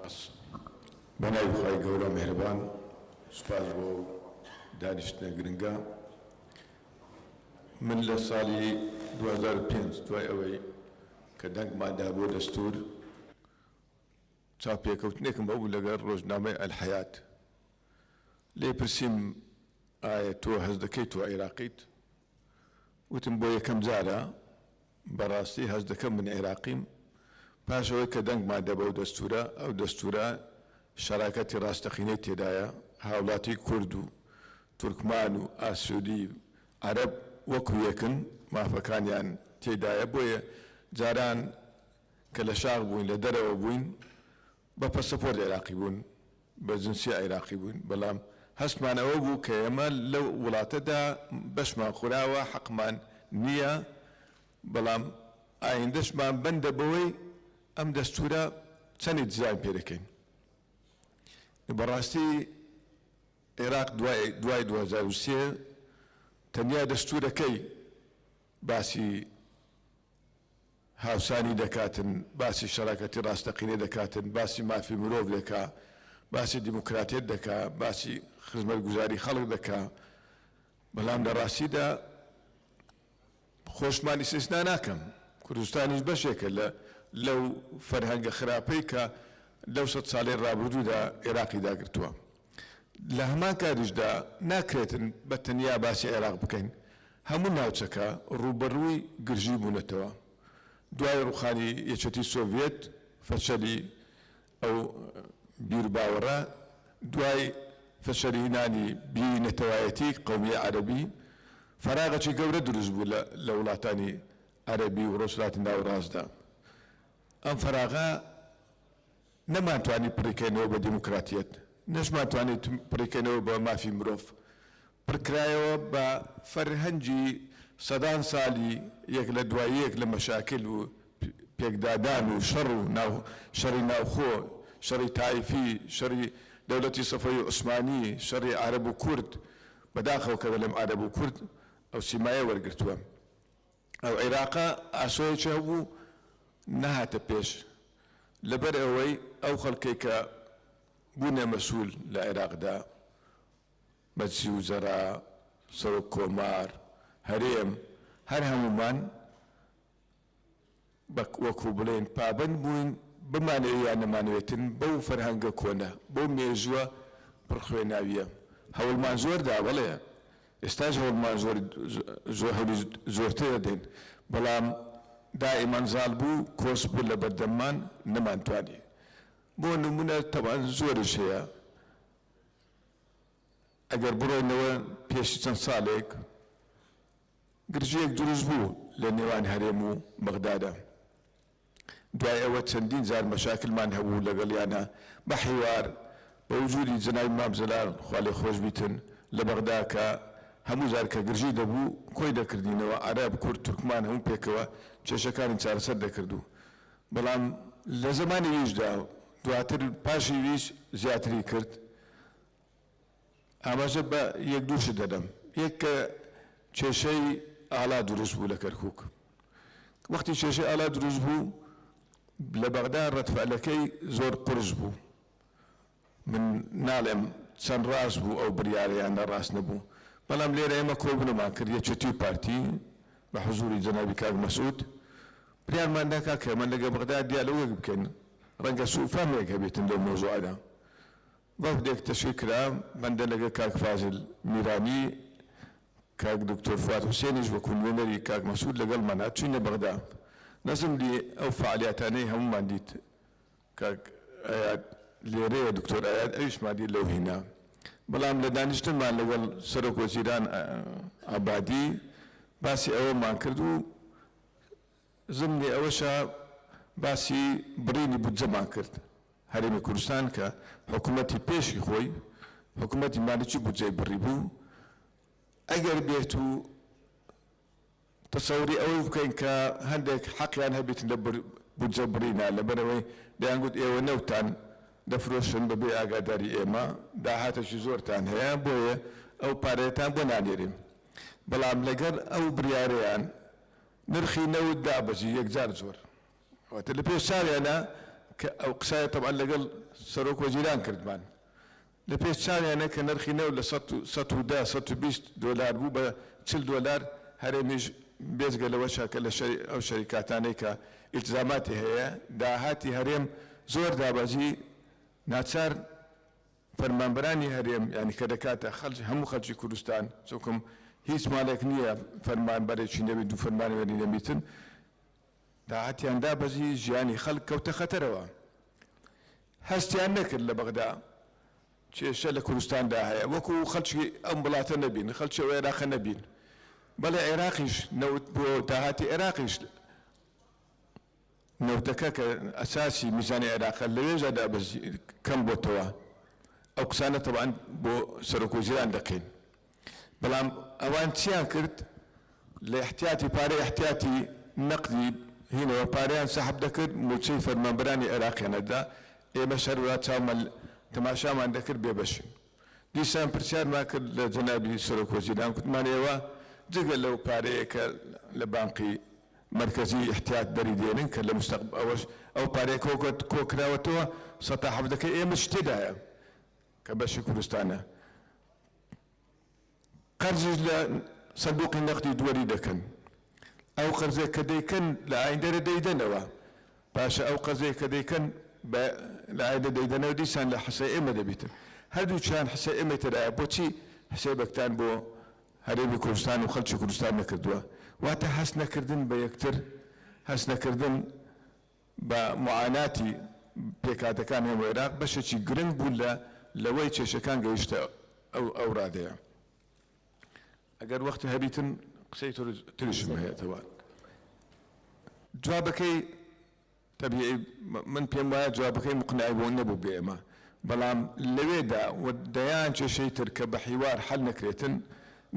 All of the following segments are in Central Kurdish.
سپاس بە ناوی خوای گەورە میهرەبان سپاس بۆ ئەو دانیشتنە گرنگە من لە ساڵی 2005 دوای ئەوەی کە دەنگمان دا بۆ دەستور چاپێکەوتنێکم بەبوو لەگەر ڕۆژنامەی ئەلحەیات لێ پرسیم ئایا تۆ هەز دەکەیت تۆ عێراقیت وتم بۆ یەکەم جارە بەڕاستی هەست دەکەم من عێراقیم، پاش ئەوەی کە دەنگمان دا بەو دەستوورە، ئەو دەستوورە شەراکەتی ڕاستەقینەی تێدایە، هاوڵاتی کورد و تورکمان و ئاسیوی عەرەب وەکو یەکن، مافەکانیان تێدایە، بۆیە جاران کە لە شاخ بووین، لە دەرەوە بووین، بە پەسەپۆرت عێراقی بوون، بە جنسیە عێراقی بووین، بەڵام هەستمان ئەوە بوو کە ئێمە لەو وڵاتەدا بەشمان خوراوە، حەقمان نییە، بەڵام ئایندەشمان بەندە بەوەی ئەم دەستوورە چەندی دیزاین پێ دەکەین. بەڕاستی عێراق دوای دوای دوو هەزار و سێ تەنیا دەستوورەکەی باسی هاوسانی دەکاتن، باسی شەراکەتی ڕاستەقینەی دەکاتن، باسی مافی مرۆڤ دەکا، باسی دیموکراتیەت دەکا، باسی خزمەتگوزاری خەڵک دەکا، بەڵام لە ڕاستیدا خۆشمان ئیستیسنا ناکەم، کوردستانیش بەشێکە لە لەو فەرهەنگە خراپەی کە لەو سەد ساڵەی ڕابردوودا ئێراقی داگرتووە. لە هەمان کاتیشدا ناکرێت بە تەنیا باسی عێراق بکەین، هەموو ناوچەکە ڕووبەڕووی گرژی بوونەتەوە، دوای ڕووخانی یەکێتی سۆڤیەت، فەشەلی ئەو بیروباوەڕە، دوای فەشەلهینانی بیری نەتەوایەتی قەومی عەرەبی، فەراغەکی گەورە دروست بوو لە وڵاتانی عەرەبی و ڕۆژهەلاتی ناوەڕاستدا، ئەم فەراغە، نەمانتوانی پڕیکەینەوە بە دیموکراتیەت نەشمان توانی پڕیکەینەوە بە مافی مرۆڤ پڕکرایەوە بە فەرهەنگی سەدان سالی یەک لە دوای یەک لە مەشاکل و پێکدادان و شەڕ و ناو شەڕی ناوخۆ شەڕی تایفی شەڕی دەولەتی سەفەوی عوسمانی شەڕی عارەب و کورد بەداخەوە کە دەلێم عارەب و کورد ئەو سیمایە وەرگرتوە. ئەو عیراقە ئاسۆیەکی هەبوو نەهاتە پێش لەبەر ئەوەی ئەو خەڵکەی کە بوونە مەسول لە عیراقدا مەجسی وزەرا سەرۆک کۆمار هەرێم هەر هەموومان بە وەکو بڵێن پابەند بووین بمانەوێ یان نەمانەوێتن بەو فەرهەنگە کۆنە، بەو مێژووە پڕ خوێناوییە هەوڵمان زۆر دا، بەڵێ ئێستاش هەوڵمان زۆر زۆر هەولی زۆرتر ئەدەین، بەڵام دائیمەن زاڵ بوو کۆچ بوو لە بەردەممان نەمانتوانی، بۆ نموونە تەبعەن زۆریش هەیە ئەگەر بڕۆینەوە پێش چەند ساڵێک، گرژییەک دروست بوو لە نێوان هەرێم و بەغدادا، دوای ئەوە چەندین جار مەشاکلمان هەبوو لەگەڵیانا بە حیوار، بە وجودی جەنابی مام جەلال خوالێخۆشبیتن لە بەغدا کە هەموو جار کە گرژی دەبوو کۆی دەکردینەوە عەرەب، کورد، تورکمان هەموو پێکەوە کێشەکانی چارەسەر دەکرد و بەڵام لە زەمانی ویشدا دواتر پاشی ویش زیاتری کرد. ئاماژە بە یەک دوو شت دەدەم، یەک کە کێشەی ئالا دروست بوو لە کەرکووک، وەختی کێشەی ئالا دروست بوو لە بەغدا ڕەدفعلەکەی زۆر قورس بوو، من ناڵێم چەند ڕاست بوو ئەو بریارە یان نە ڕاست نەبوو، بەڵام لێرە ئێمە کۆبوونەومان کرد یەکێتی و پارتی بە حزووری جەنابی کاک مەسعود بریارمان دا کاکە ئێمە لەگەڵ بەغدا دیالۆگێک بکەین، ڕەنگە سووفەهمێک هەبێتن لەو مەوزوعەدا، وەفدێک تەشوی کرا بەندە لەگەڵ کاک فازل میرانی کاک دکتۆر فواد حوسێنیش وەکو نوێنەری کاک مەسعود لەگەڵمانا چوینە بەغدا نەزم دی ئەو فەعالیاتانەی هەموومان دیت کاک ئەیاد لێرەیە دکتۆر ئەیاد ئەویشمان دی لەو هینا بەڵام لە دانیشتنمان لەگەڵ سەرۆک وەزیران عەبادی باسی ئەوەمان کرد و زم لە ئەوەشا باسی بڕینی بودجەمان کرد، هەرێمی کوردستان کە حکومەتی پێشی خۆی حکومەتی مالیکی بودجەی بڕیبوو، ئەگەر بێت و تەسەوری ئەوەی بکەین کە هەندێک حەقیان هەبێت لە بودجە بڕینا، لەبەرئەوەی دەیانگوت ئێوە نەوتتان دەفرۆشن بەبێ ئاگاداری ئێمە، داهاتێکی زۆرتان هەیە بۆیە ئەو پارەیەتان بۆ نانێرین، بەڵام لەگەڵ ئەو بریارەیان نرخی نەوت دابەزی یەکجار زۆر واتە لە پێش چاویانا کە ئەو قسایە تەبعەن لەگەڵ سەرۆک وەزیران کردمان لە پێش چاویانە کە نرخی نەوت لە سەد و سەد و دە سەد و بیست دۆلار بوو بە چل دۆلار هەرێمیش بێجگە لەوەشە کە لە شەری ئەو شەریکاتانەی کە ئیلتزاماتی هەیە داهاتی هەرێم زۆر دابەزی ناچار فەرمانبەرانی هەرێم یانی کە دەکاتە خەلکی هەموو خەلکی کوردستان چونکم هیچ مالێک نیە فەرمان بەرێکی نەبی دوو فەرمان وێری نەبیتن تاعەتیان دا بەجی ژیانی خەلک کەوتە خەتەرەوە هەستیان نەکرد لە بەغدا کێشە لە کوردستان دا هەیە وەکو خەلکی ئەم ولاتە نەبین خەلکی ئەو عێراقە نەبین بەڵێ عێراقیش نەوت بۆ داهاتی عێراقیش نەوتەکە کە ئەساسی میزانی عێراقە لەوێژا دابەزی کەم بۆتەوە ئەو قسانە تەبعەن بۆ سەرۆک وەزیران دەکەین بەڵام ئەوان چیان کرد لە ئحتیاتی پارەی ئحتیاتی نەقدی هینەوە پارەیان سەحب دەکرد موچەی فەرمانبەرانی عێراقیان ئەدا ئێمەش هەروەها چاومان تەماشامان دەکرد بێبەشین. دیسان پرسیارمان کرد لە جەنابی سەرۆک وەزیران، گوتمان ئێوە جگە لەو پارەیە کە لە بانقی مەرکەزی ئیحتیات دەری دێنن کە لە مستەق ئەوەش ئەو پارەیە کۆ کۆ کراوەتەوە سەتا حەڤدەکەی ئێمەش تێدایە کە بەشی کوردستانە. قەرزیش لە سندوقی نەقدی دوەری دەکەن ئەو قەرزەی کە دەیکەن لە ئایندەرە دەیدەنەوە باشە ئەو قەرزەی کە دەیکەن بە لە ئایندە دەیدەنەوە دیسان لە حسە ئێمە دەبیتن هەردوو چیان حسە ئێمەی تەدایە بۆچی حسێبەکتان بۆ هەرێمی کوردستان و خەلکی کوردستان نەکردوە واتە هەست نەکردن بە یەکتر هەست نەکردن بە موعاناتی پێکهاتەکان هەم وعیراق بەشێکی گرنگ بوو لە لەوەی کێشەکان گەیشتە ئەو ئەو ڕادەیە ئەگەر وەختی هەبیتن قسەی تر تریشم هەیەتەوە جوابەکەی تەبیعی من پێم وایە جوابەکەی مقنعی بۆ نەبوو بێمە بەڵام لەوێدا و دەیان کێشەی تر کە بە حیوار حل نەکرێتن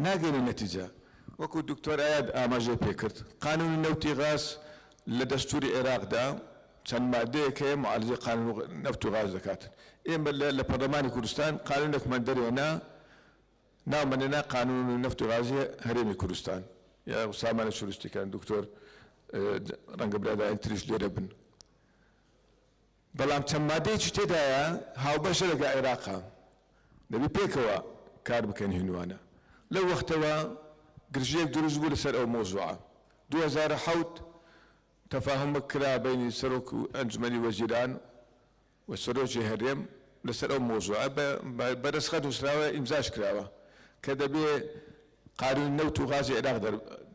ناگەێنە نەتیجە وەکو دکتۆر ئاەت ئاماژەی پێکرد قانونی نەوتی غاز لە دەستوری عێراقدا چەند مادەیەک هەیە معارزەی قانون و نەفت و غاز دەکات. ئێمە لە لە پەرلەمانی کوردستان قانونێکمان دەرهێنا ناومان لێنا قانون و نەفت و غازی هەرێمی کوردستان. یا سامانە شورستیکان دکتۆر ڕەنگە برادەرانی تریش لێرە بن. بەڵام چەند مادەیەکی تێدایە هاوبەشە لەگەڵ عێراقا دەبی پێکەوە کار بکەن هیندوانە لەو وەختەوە گرژیەک دروست بوو لەسەر ئەو مەوزوعە دوو هەزار و حەوت تەفاهومەک کرا بەینی سەرۆک و ئەنجومەنی وەزیران و سەرۆکی هەرێم لەسەر ئەو مەوزوعە بە بە رەسخەت نوسراوە ئیمزاش کراوە کە دەبێ قانونی نەوت و غازی عیراق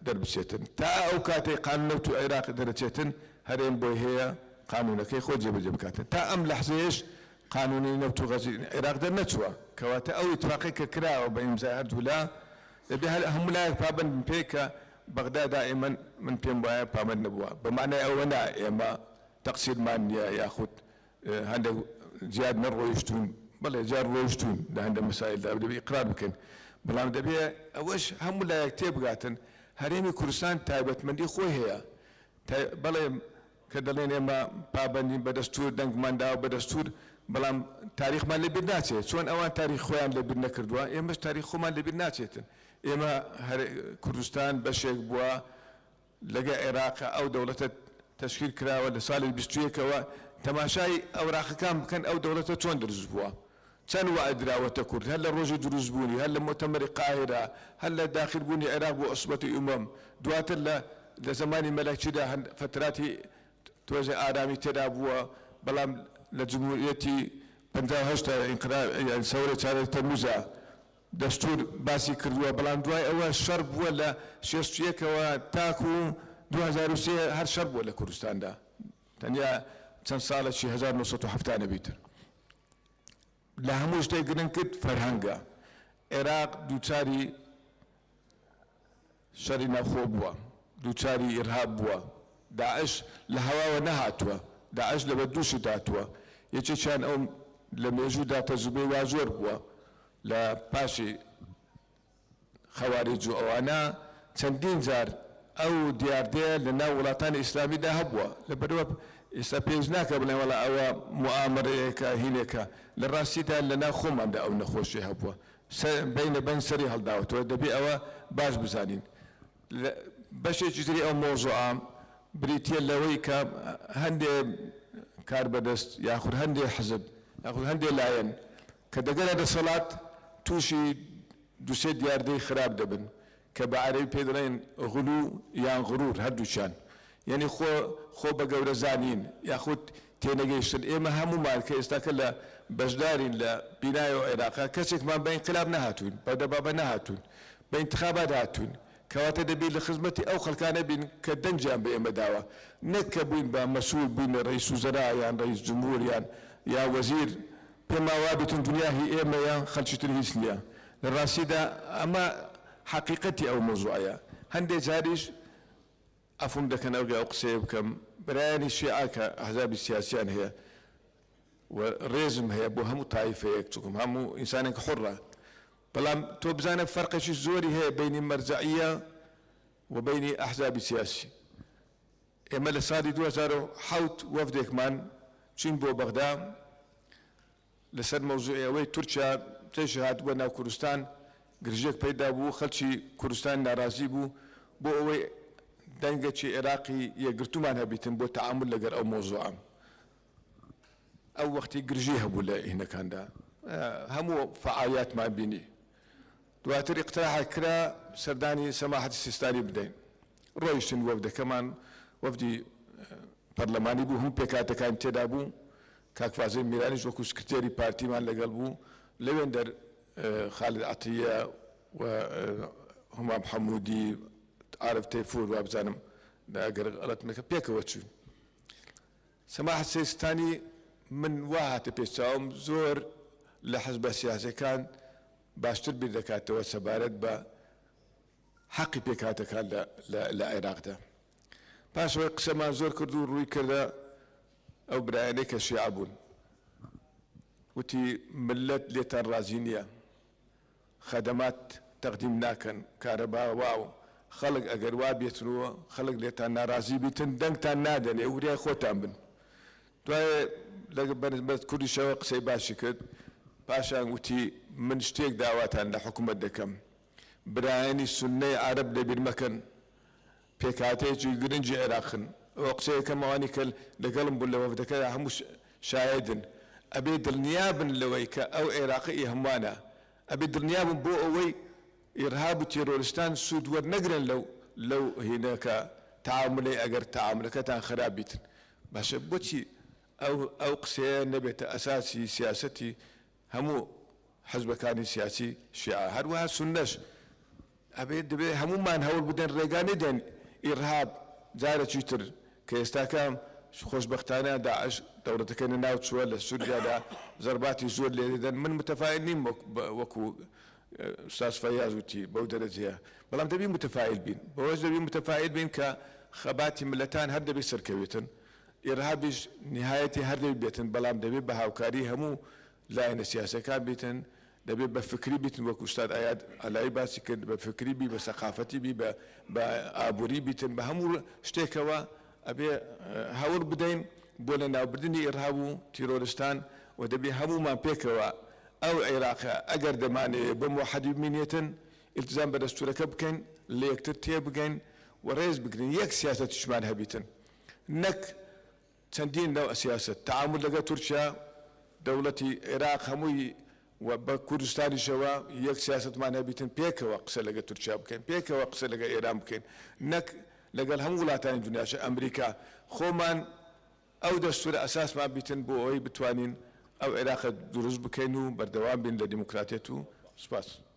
دەربچێتن، تا ئەو کاتەی قانون نەوت و عیراق دەرەچێتن هەرێم بۆی هەیە قانونەکەی خۆی جێبەجێ بکاتن، تا ئەم لەحزەیەش قانونی نەوت و غازی عیراق دەرنەچووە. کەواتە ئەو ئیتفاقەی کە کراوە بە ئیمزای هەردوو لا، دەبێ هەر هەموو لایەک پابەند بن پێی کە بەغدا دائیمەن من پێم وایە پابەند نەبووە، بە مانای ئەوە نا ئێمە تەقسیرمان نییە یاخود هەندێک جار نەڕۆیشتوون، بەڵێ جار ڕۆیشتوون لە هەندێک مەسایلدا دەبێ ئیقرار بکەین، بەڵام دەبێ ئەوەش هەموو لایەک تێبگاتن هەرێمی کوردستان تایبەتمەندی خۆی هەیە تا بەڵێ کە دەڵێن ئێمە پابەندین بە دەستوور دەنگمان داوە بە دەستوور بەڵام تاریخمان لە بیر ناچێت چۆن ئەوان تاریخی خۆیان لە بیر نەکردووە ئێمەش تاریخی خۆمان لە بیر ناچێتن ئێمە هەر کوردستان بەشێک بووە لەگە عێراق ئەو دەوڵەتە تەشکیل کراوە لە ساڵی بیست و یەک ەوە تەماشای ئەوراقەکان بکەن ئەو دەوڵەتە چۆن دروست بووە چەند وائە دراوەتە کورد هەر لە ڕۆژی دروست بوونی هەر لە مۆتەمەری قاهیرە هەر لە داخل بوونی عێراق بۆ عوسبەتی ئومەم دواتر لە لە زەمانی مەلەکیدا هەن فتراتی تۆزێ ئارامی تێدا بووە بەڵام لە جمهوریەتی پەنجا و هەشت تا ئینقلاب یان سەورەی چاردە تەموزا دەستوور باسی کردووە، بەڵام دوای ئەوە شەڕ بووە لە شێست و یەک ەوە تاکوو دوو هەزار و سێ هەر شەڕ بووە لە کوردستاندا تەنیا چەند ساڵە چی هەزار و نۆ سەد و حەفتا نەبی تر لە هەموو شتێک گرنگ کرد فەرهەنگە عێراق دووچاری شەڕی ناوخۆ بووە، دووچاری ئیرهاب بووە، داعش لە هەواوە نەهاتووە، داعش لە بەردووشت هاتووە، یەکێکیان ئەو لە مێژوودا تەجروبەی وا زۆر بووە لە پاشی خەواریج و ئەوانە چەندین جار ئەو دیاردەیە لە ناو وڵاتانی ئیسلامیدا هەبووە لەبەرئەوە ئێستا پێویست ناکا بڵێن وەڵا ئەوە موئامەرەیەکە هینێکە لە ڕاستیدا لە ناو خۆماندا ئەو نەخۆشیە هەبووە سەر بەی لە بەن سەری هەڵداوەتەوە دەبێ ئەوە باش بزانین لە بەشێکی تری ئەو مەوزوعە بریتیە لەوەی کە هەندێ کاربەدەست یاخود هەندێ حزب یاخود هەندێ لایەن کە دەگەنە دەسەڵات تووشی دوسێ دیاردەی خراپ دەبن کە بە عەرەبی پێی دەڵێن غلو یان غرور هەردووکیان یەنی خۆ خۆ بە گەورە زانین یاخود تێنەگەیشتن ئێمە هەموومان کە ئێستاکە لە بەشدارین لە بینای ئەو عێراقە کەسێکمان بە ئینقلاب نەهاتووین بەو دەبابە نەهاتووین بە ئینتخابات هاتووین کەواتە دەبێ لە خزمەتی ئەو خەڵکانە بین کە دەنگیان بە ئێمە داوە نەک کە بووین بە مەسول بووین ڕەیس وزرا یان ڕەیس جمهور یان یا وەزیر پێمان وا دەچن دونیا هی ئێمەیە خەلکی تر هیچ نیە لە راستیدا ئەمە حەقیقەتی ئەو مەوزوعەیە هەندێ جاریش عەفوم دەکەن ئەگە ئەو قسەیە بکەم برایانی شیعە کە ئەحزابی سیاسیان هەیە و رێزم هەیە بۆ هەموو تایفەیەک چونکە هەموو ئینسانێک حوڕە بەڵام تۆ بزانە فەرقێکی زۆری هەیە بەینی مەرجەعیە و بەینی ئەحزابی سیاسی ئێمە لە ساڵی دوو هەزار و حەوت وەفدێکمان چووین بۆ بەغدا لەسەر مەوزوعی ئەوەی تورکیا پێش هاتبووە ناو کوردستان گرژێک پەیدا بوو خەڵکی کوردستان نارازی بوو بۆ ئەوەی دەنگەکی عێراقی یەکگرتوومان هەبیتن بۆ تەعامول لەگەر ئەو مەوزوعە ئەو وەختی گرژی هەبوو لە هینەکاندا هەموو فەعالیاتمان بینی دواتر ئیقتراحێک کرا سەردانی سەماحەتی سیستانی بدەین، ڕۆیشتین وەفدەکەمان وەفدی پەرلەمانی بوو هەموو پێکهاتەکانی تێدا بوو، کاک فازیل میرانیش وەکو سکرتێری پارتیمان لەگەڵ بوو، لەوێندەر خالد عەتیە و هومام حەمودی عارف تەیفور وابزانم ئەگەر غەڵەتم نەکرد پێکەوە چووین سەماحەت سیستانی من وا هاتە پێش چاوم زۆر لە حزبە سیاسیەکان باشتر بیر دەکاتەوە سەبارەت بە حەقی پێکهاتەکان لە عێراقدا. پاش ئەوەی قسەمان زۆر کرد و ڕووی کردە ئەو برایانەی کە شیعە بوون، وتی ملت لێتان ڕازی نییە، خەدەمات تەقدیم ناکەن، کارەبا وا و خەڵک ئەگەر وا بێتن و خەڵک لێتان ناڕازی بیتن دەنگتان نادەنێ و وریای خۆتان بن. دوای لە بەرز کوردیشەوە قسەی باشی کرد پاشان وتی من شتێک داواتان لە حکومەت دەکەم برایانی سنەی عەرەب لەبیر مەکەن پێکهاتەیەکی گرنگی عێراقن ئەوە قسەیەکەم ئەوانی کە لەگەڵم بوون لە وەفدەکەدا هەموو شایدن ئەبێ دڵنیابن لەوەی کە ئەو عێراقە ئی هەمووانە ئەبێ دڵنیابن بۆ ئەوەی ئیڕهاب و تێرۆرستان سوود وەرنەگرن لەو لەو هینەکە تعاملەی ئەگەر تعاملەکەتان خراپ بیتن باشە بۆچی ئەو قسەیە نەبێتە ئەساسی سیاسەتی هەموو حزبەکانی سیاسی شیعە هەروەها سونەش ئەبێت دەبێت هەموومان هەوڵ بدەین ڕێگا نەدەین ئیرهاب جارەکی تر کە ئێستاکە خۆشبەختانە داعش دەوڵەتەکەی لەناو چووە لە سوریادا زەرباتی زۆر لێ دەدەن من متەفائیل نیم وەکو ئوستاز فەیاز وتی بەو دەرەجەیە، بەڵام دەبی متفائیل بین، بەوەش دەبی متفائیل بین کە خەباتی مللەتان هەر دەبی سەرکەویتن، ئیرهابیش نیهایەتی هەر دەبی بێتن، بەڵام دەبی بە هاوکاری هەموو لایەنە سیاسیەکان بیتن، دەبی بە فکری بیتن وەک ئوستاد ئایاد ئالایی باسی کرد، بە فکری بی، بە سەقافەتی بی، بە بە ئابووری بیتن، بە هەموو شتێکەوە ئەبێ هەوڵ بدەین بۆ لەناوبردنی ئیرهاب و تیرۆرستان و دەبی هەموومان پێکەوە ئەو عێراقە ئەگەر دەمانەوێت بە موحەدی بمینێتن ئیلتزام بە دەستورەکە بکەین لە یەکتر تێبگەین و رێز بگرین یەک سیاسەتیشمان هەبیتن نەک چەندین نەوع سیاسەت تەعامول لەگەڵ تورکیا دەوڵەتی عێراق هەمووی و بە کوردستانیشەوە یەک سیاسەتمان هەبیتن پێکەوە قسە لەگەڵ تورکیا بکەین پێکەوە قسە لەگەڵ ئێران بکەین نەک لەگەڵ هەموو وڵاتانی دنیاش ئەمریکا خۆمان ئەو دەستورە ئەساسمان بیتن بۆ ئەوەی بتوانین ئەو عێراقە دروست بکەین و بەردەوام بین لە دیموکراتیەت و سوپاس.